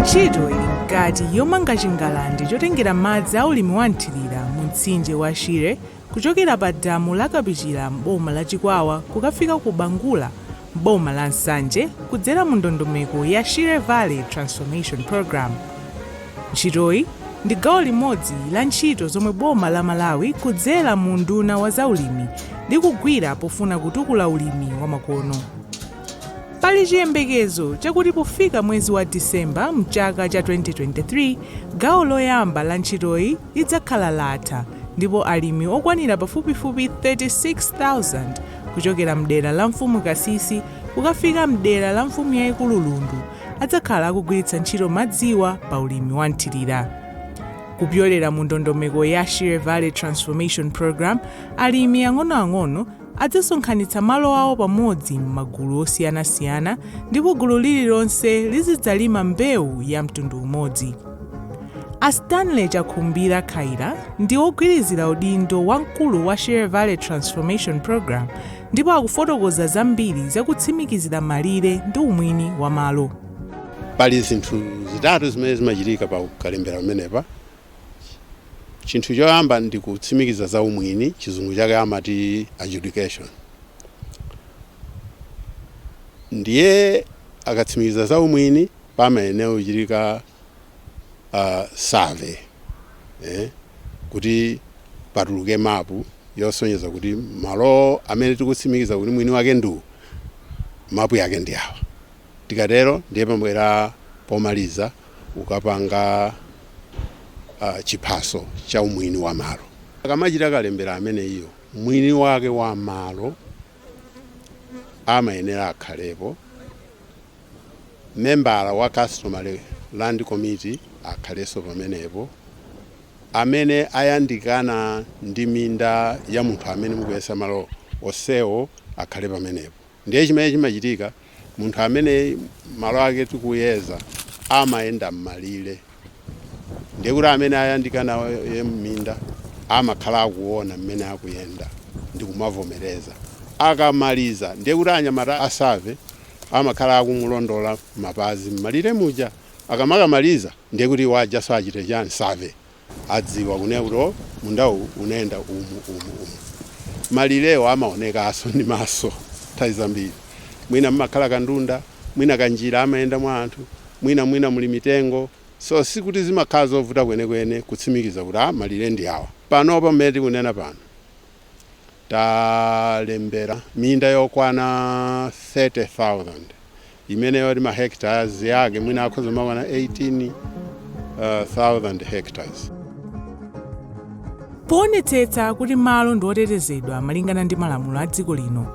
ntchito ili mkati yomanga chingalande chotengera madzi a ulimi wa mthirira mu mtsinje wa shire kuchokera pa damu la kapichira m'boma la chikwawa kukafika ku bangula M'boma la Nsanje, kudzera mu ndondomeko ya Shire Valley Transformation Programme, ntchitoyi ndi gawo limodzi la ntchito zomwe boma la Malawi kudzera mu unduna wa za ulimi likugwira pofuna kutukula ulimi wa makono. Pali chiyembekezo chakuti pofika mwezi wa December mchaka cha 2023, gawo loyamba la ntchitoyi lidzakhala latha ndipo alimi okwanira pafupifupi 36,000 kuchokera m'dera la Mfumu Kasisi kukafika m'dera la Mfumu Yaikulu Lundu adzakhala akugwiritsa ntchito madziwa pa ulimi wa mthirira. Kupyolera mu ndondomeko ya Shire Valley Transformation Program, alimi ang'onoang'ono adzasonkhanitsa malo awo pamodzi m'magulu osiyanasiyana ndipo gulu lililonse lizidzalima mbewu ya mtundu umodzi. A Stanley Chakhumbira Khaila ndi ogwirizira udindo wa mkulu wa Shire Valley Transformation Program ndipo akufotokoza zambiri za kutsimikizira malire ndi umwini wa malo. pali zinthu zitatu zimene zimachitika pa kalembera pamenepa chinthu choyamba ndi kutsimikiza za umwini chizungu chake amati adjudication ndiye akatsimikiza za umwini pamayenera kuchitika uh, survey eh, kuti patuluke mapu yosonyeza kuti malo amene tikutsimikiza kuti mwini wake ndi uyu mapu yake ndi awa tikatero ndiye pamabwera pomaliza kukapanga uh, chiphaso cha umwini wa malo akamachita kalembera ameneyo mwini wake wa malo amayenera akhalepo membala wa customary land committee akhalenso pamenepo amene ayandikana ndi minda ya munthu amene mukuyesa malo onsewo akhale pamenepo ndiye chimene chimachitika munthu amene malo ake tikuyeza amayenda mmalire ndiye kuti amene ayandikana naye minda amakhala akuona mmene akuyenda ndikumavomereza akamaliza ndiye kuti anyamata a survey amakhala akumulondola mapazi mmalire muja akamakamaliza ndiye kuti iwo ujaso achite chani save adziwa kunena kuti o oh, mundawu unayenda umu umu umu malirewo amaonekaso ndi maso nthawi zambiri mwina mmakhala kandunda mwina kanjira amayenda mwa anthu mwina mwina muli mitengo so sikuti zimakhala zovuta kwenekwene kutsimikiza kuti a ah, malire ndi awa panopa mmene tikunena pano talembera minda yokwana 30,000 imene yoti ma hectares yake mwina akhoza kukwana 18,000 hectares. Poonetsetsa kuti malo ndi otetezedwa malingana ndi malamulo a dziko lino,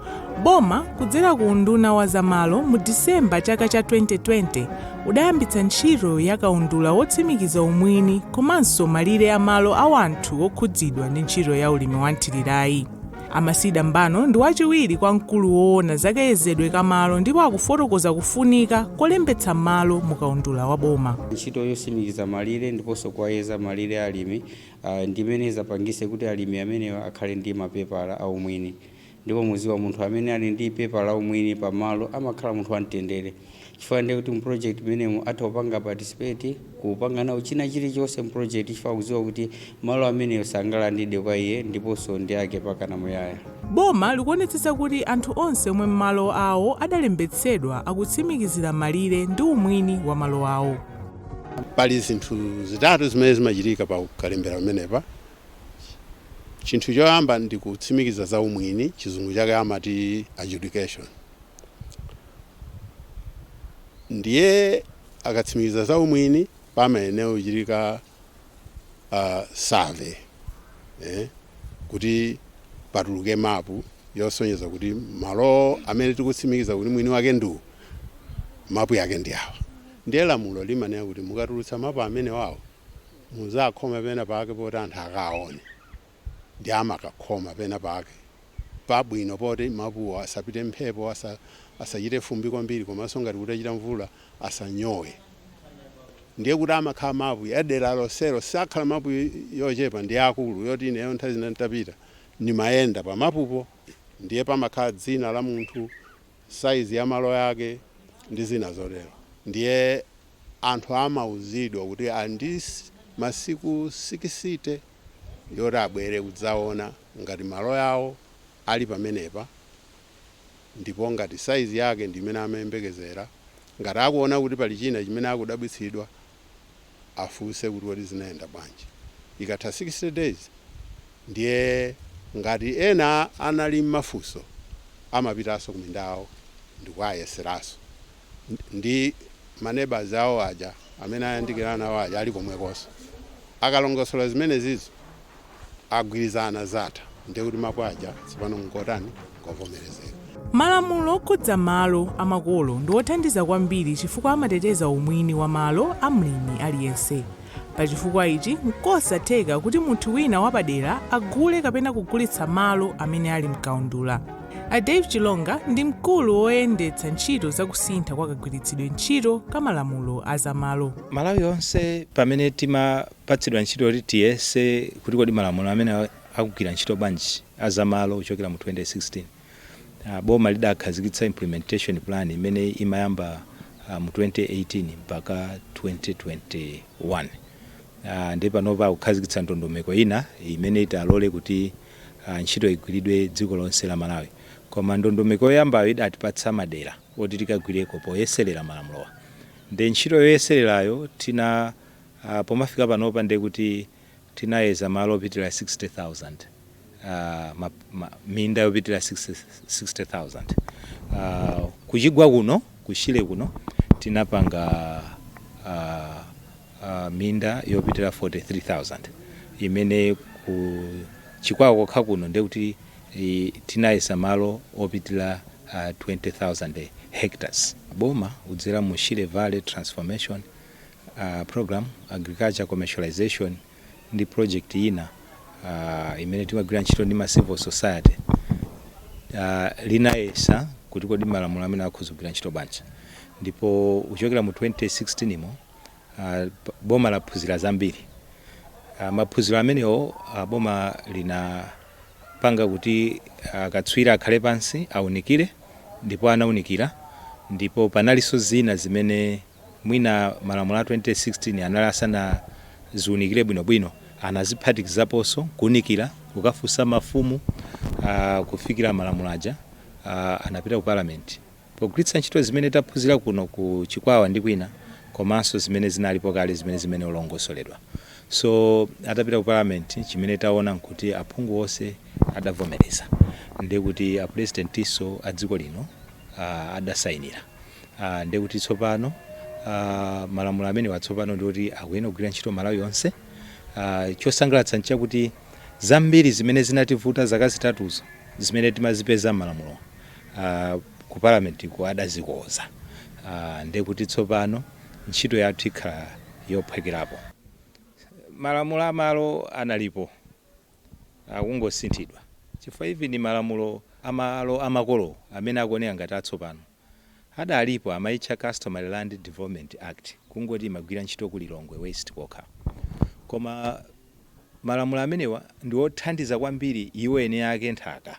boma kudzera ku nduna wa za malo mu December chaka cha 2020 udayambitsa ntchito ya kaundula wotsimikiza umwini komanso malire a malo a wanthu okhudzidwa ndi ntchito ya ulimi wa mthirirayi amasida mbano ndi wachiwiri kwa mkulu woona za kayezedwe ka malo ndipo akufotokoza kufunika kolembetsa malo mu kaundula wa boma ntchito yotsimikiza malire ndiponso kuwayeza malire a alimi ah, ndi imene izapangise kuti alimi amenewa akhale ndi mapepala aumwini Ndipo muziwa munthu amene ali ndi paper la umwini pa malo amakhala munthu wa mtendere chifukwa ndiye kuti mu project mmenemu atha kupanga participate kupanga nawo china chili chonse mu project chifukwa akuziwa kuti malo ameneyo sangalandidwe kwa iye ndiponso ndi ake pakana muyaya. Boma likuonetsetsa kuti anthu onse omwe malo awo adalembetsedwa akutsimikizira malire ndi umwini wa malo awo. Pali zinthu zitatu zimene zimachitika pa kalembera pamenepa. Chinthu choyamba ndi kutsimikiza za umwini, chizungu chake amati adjudication. Ndiye akatsimikiza za umwini pamayenera kuchitika uh, survey eh, kuti patuluke mapu yosonyeza kuti malo amene tikutsimikiza kuti mwini wake ndi uyu mapu yake ndi awa. Ndiye lamulo limanena kuti mukatulutsa mapu amene wawo muzakhoma pena pake poti anthu akaone ndiye amakakhoma pena pake pabwino poti mapuwo asapite mphepo asa, asachite fumbi kwambiri komanso ngati kutachita mvula asanyowe ndiye kuti amakhala mapu ya dera lonselo sakhala mapu yochepa ndi akulu yoti ineyo nthawi zina nditapita ndimayenda pamapupo ndiye pamakhala dzina la munthu size ya malo yake ndi zina zotero ndiye anthu amauzidwa kuti ali ndi masiku sikisite yoti abwere kudzaona ngati malo yawo ali pamenepa ndipo ngati size yake ndi imene amayembekezera ngati akuona kuti pali china chimene akudabwitsidwa afunse kuti kodi zinayenda bwanji. Ikatha 60 days ndiye ngati ena anali mmafunso amapitaso kuminda yawo ndikuayeseranso ndi maneighbours awo aja amene ayandikirana nawo aja ali komwekonso. Akalongosola zimene zizo. agwirizana zatha ndiye kuti mapu aja tsopano n'ngotani? N'ngovomerezeka. Malamulo okhudza malo a makolo ndi othandiza kwambiri chifukwa amateteza umwini wa malo a mlimi aliyense. Pa chifukwa ichi, n'kosatheka kuti munthu wina wapadera agule kapena kugulitsa malo amene ali m'kaundula. A Dave Chilonga ndi mkulu woyendetsa ntchito za kusintha kwa kagwiritsidwe ntchito ka malamulo a za malo. Malawi yonse pamene tima. patsidwa ntchito yoti tiyese kuti kodi malamulo amene akugwira ntchito bwanji a za malo kuchokera mu 2016. Boma lidakhazikitsa implementation plan imene imayamba mu 2018 mpaka 2021 ndiye panopa akukhazikitsa ndondomeko ina imene italole kuti ntchito igwiridwe dziko lonse la Malawi koma ndondomeko yoyambayo idatipatsa madera oti tikagwireko poyeserera malamulowa ndiye ntchito yoyesererayo tina. a Pomafika panopa ndiye kuti tinayeza malo opitira 60,000, a minda yopitira 60,000. a Kuchigwa kuno, ku Shire kuno tinapanga a a minda yopitira 43,000 imene ku Chikwawa kokha kuno ndiye kuti i tinayeza malo opitira a 20,000 hectares. Boma kudzera mu Shire Valley Transformation. program, Agriculture Commercialization, ndi project ina imene timagwira ntchito ndi ma civil society linayesa kuti kodi malamulo amene akhoza kugwira ntchito bwanji ndipo kuchokera mu 2016 mo boma laphunzira zambiri. Maphunziro amenewo boma linapanga kuti akatswiri akhale pansi aunikire ndipo anaunikira ndipo panalinso zina zimene Mwina malamulo a 2016 anali asanaziunikire bwinobwino, anaziphatikizaponso nkuunikira, kukafunsa mafumu kufikira malamulo aja anapita ku Parliament. Pogwiritsa ntchito zimene taphunzira kuno ku Chikwawa ndi kwina komanso zimene zinalipo kale zimene zimene olongosoledwa. So atapita ku Parliament chimene taona nkuti aphungu onse adavomereza. Ndiye kuti apulezidentinso a dziko lino adasainira. Aaa ndiye kuti tsopano aaa malamulo amenewa tsopano ndiye kuti akuyenera kugwira ntchito Malawi yonse aaa chosangalatsa nchakuti zambiri zimene zinativuta zaka zitatuzo zimene timazipeza mmalamulowa aaa ku parliament ko adazikoza aaa ndiye kuti tsopano ntchito yathu ikhala yophwekerapo malamulo a malo analipo akungosinthidwa chifukwa even malamulo a malo a makolo amene akuoneka ngati atsopano adalipo amaitcha Customary Land Development Act kungoti imagwira ntchito ku Lilongwe West kokha koma malamulo amenewa ndi othandiza kwambiri iwo eni ake nthaka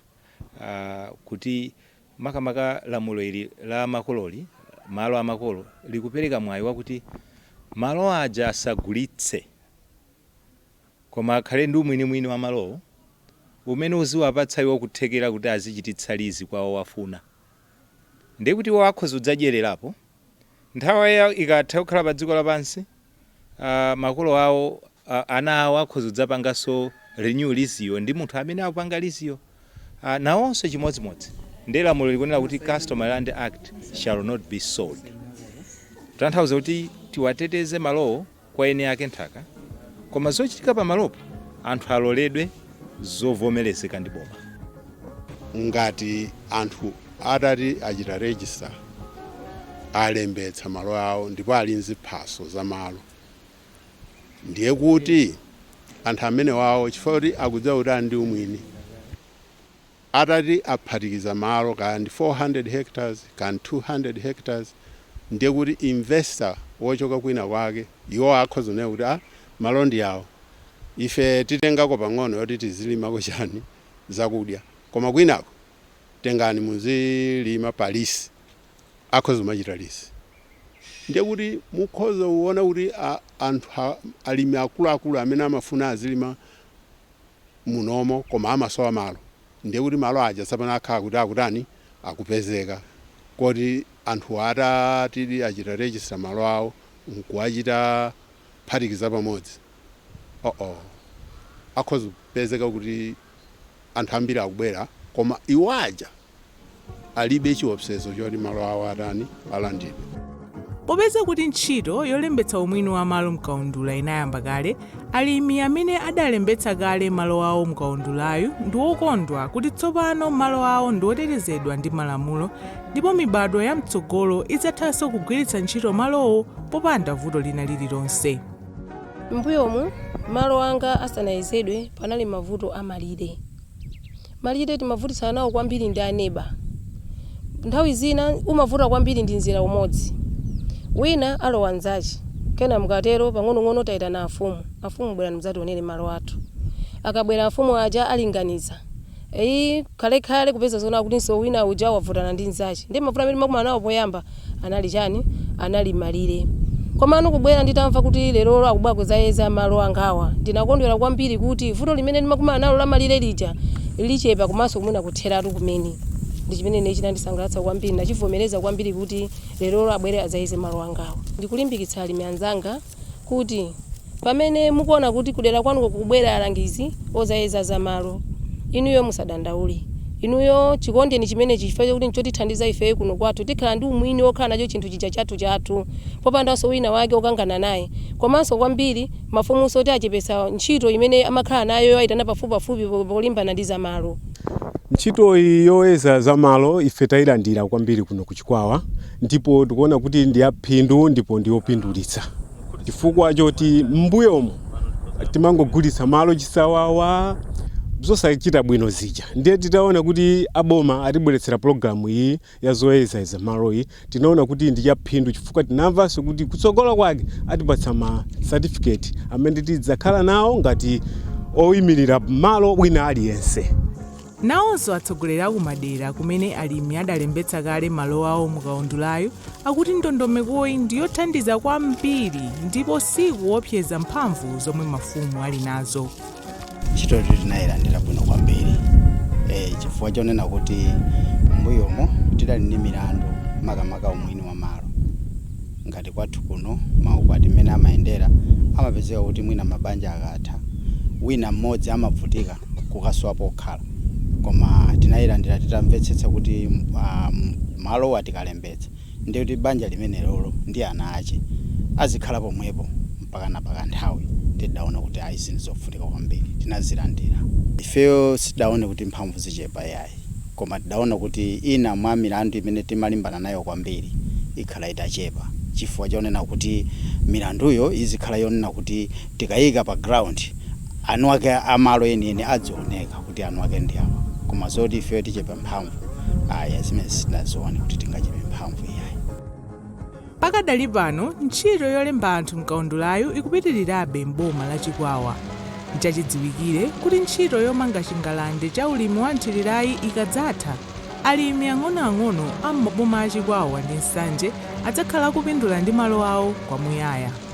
kuti makamaka lamulo ili la makololi malo amakolo likupereka mwayi wakuti malo aja asagulitse koma akhale ndi umwinimwini wa malowo umene uziwapatsa iwo kuthekera kuti azichititsa lizi kwa owafuna. ndiye kuti iwo akhoza kudzadyererapo, nthawi yawo ikatha kukhala pa dziko lapansi, a, makolo awo, a, ana awo akhoza kudzapanganso renew liziyo ndi munthu amene akupanga liziyo, a, nawonso chimodzimodzi. Ndiye lamulo likunena kuti customary land shall not be sold. Kutanthauza kuti tiwateteze malowo kwa eni ake nthaka koma zochitika pa malopo anthu aloledwe zovomelezeka ndi boma. ngati anthu atati achita register alembetsa malo awo ndipo ali nziphaso za malo ndiye kuti anthu amenewowo chifukwa kuti akudziwa kuti ali ndi umwini Atati aphatikiza malo kaya ndi 400 hectares kaya ndi 200 hectares ndiye kuti investor wochoka kwina kwake iwowa akhoza kunena kuti ah malo ndi awo ife titengako pang'ono yoti tizilimako chani zakudya koma kwinako tengani muzilima pa lease akhoza kumachita lease ndiye kuti mukhoza kuona kuti ah anthu alimi akuluakulu amene amafuna azilima munomo koma amasowa malo ndiye kuti malo aja tsopano akhala kuti akutani akupezeka kuti anthuwa atatidi achita register malo awo nkuwachita phatikiza pamodzi oo akhoza kupezeka kuti anthu ambiri akubwera koma iwo aja alibe chiopsezo choti malo awo atani alandidwe. Popeza kuti ntchito yolembetsa umwini wa malo m'kaundula inayamba kale, alimi amene adalembetsa kale malo awo mukaundulayu ndi wokondwa kuti tsopano malo awo ndi otetezedwa ndi malamulo ndipo mibadwo ya mtsogolo idzathanso kugwiritsa ntchito malowo popanda vuto lina lililonse. M'mbuyomu, malo anga asanayezedwe panali mavuto a malire. Malire timavutitsana nawo kwambiri ndi aneba. Nthawi zina umavuta kwambiri ndi mzera umodzi. Wina alowa mnzache. Kenaka mukatero pang'onong'ono taitana afumu. Afumu bwerani mudzationere malo athu. Akabwera afumu aja alinganiza. Eii, khalekhale kupeza zoti kutinso wina uja wavutana ndi mnzache. Ndiye mavuto amene timakumana nawo poyamba anali chani? anali malire. Komano kubwera nditamva kuti lerolo akubwera kudzayeza malo angawa, ndinakondwera kwambiri kuti vuto limene ndimakumana nalo la malire lija lichepa komanso mwina kutheratu kumene. Ndi chimene ine chinandisangalatsa kwambiri, ndachivomereza kwambiri kuti lerolo abwere adzayeze malo angawa. Ndikulimbikitsa alimi anzanga. kuti pamene mukuona kuti kudera kwanuko kukubwera alangizi ozayeza za malo, inuyo musadandaule. Inuyo chikondeni chimenechi chifukwa chakuti nchotithandiza ifeyo kuno kwathu. Tikhala ndi umwini wokhala nacho chinthu chija chathuchathu popandanso wina wake wokangana naye. Komanso kwambiri, mafumunso ati achepetsa ntchito imene amakhala nayo yowaitana pafupipafupi polimbana ndi za malo. Ntchitoyi yoyeza za malo ife tailandira kwambiri kuno ku Chikwawa ndipo tikuona kuti ndi yaphindu ndipo ndi yopindulitsa chifukwa choti m'mbuyomo timangogulitsa malo chisawawa zosachita bwino zija ndiye titaona kuti aboma atibweretsera pologalamu iyi ya zoyeza za malo iyi tinaona kuti ndi yaphindu chifukwa tinamvanso kuti kutsogola kwake atipatsa ma satifiketi amene tidzakhala nawo ngati oyimirira malo wina aliyense Nawonso atsogoleri a kumadera kumene alimi adalembetsa kale malo awo mu kaundulayu akuti ndondomekoyi ndi yothandiza kwambiri ndipo siikuwopseza mphamvu zomwe mafumu ali nazo. Ntchitoyo tinayilandira bwino kwambiri e, chifukwa chonena kuti m'mbuyomo tidali ndi milandu makamaka umwini wa malo ngati kwathu kuno maukwati mmene amayendera amapezeka kuti mwina mabanja akatha wina mmodzi amavutika kusowa pokhala koma tinayilandira titamvetsetsa kuti um, malowa tikalembetsa ndi kuti banja limenelolo ndi ana ache azikhala pomwepo mpakana pakanthawi tidaona kuti ayi ndizofunika kwambiri tinazilandira ifeyo sitidaone kuti mphamvu zichepa yayi koma tidaona kuti ina mwa milandu imene timalimbana nayo kwambiri ikhala itachepa chifukwa chonena kuti milanduyo izikhala yonena kuti tikayika pa ground anuwake a malo enieni adzioneka kuti anuwake ndi awa koma zoti ifeyo tichepa mphamvu ayi zimenezi sitinazione kuti tingachepe mphamvu iyayi. Pakadali pano, ntchito yolemba anthu m'kaundulayu ikupitilirabe m'boma la Chikwawa. Nchachidziwikire kuti ntchito yomanga chingalande cha ulimi wa mthirirayi ikadzatha, alimi ang'onoang'ono a m'maboma a Chikwawa ndi Nsanje adzakhala akupindula ndi malo awo kwamuyaya.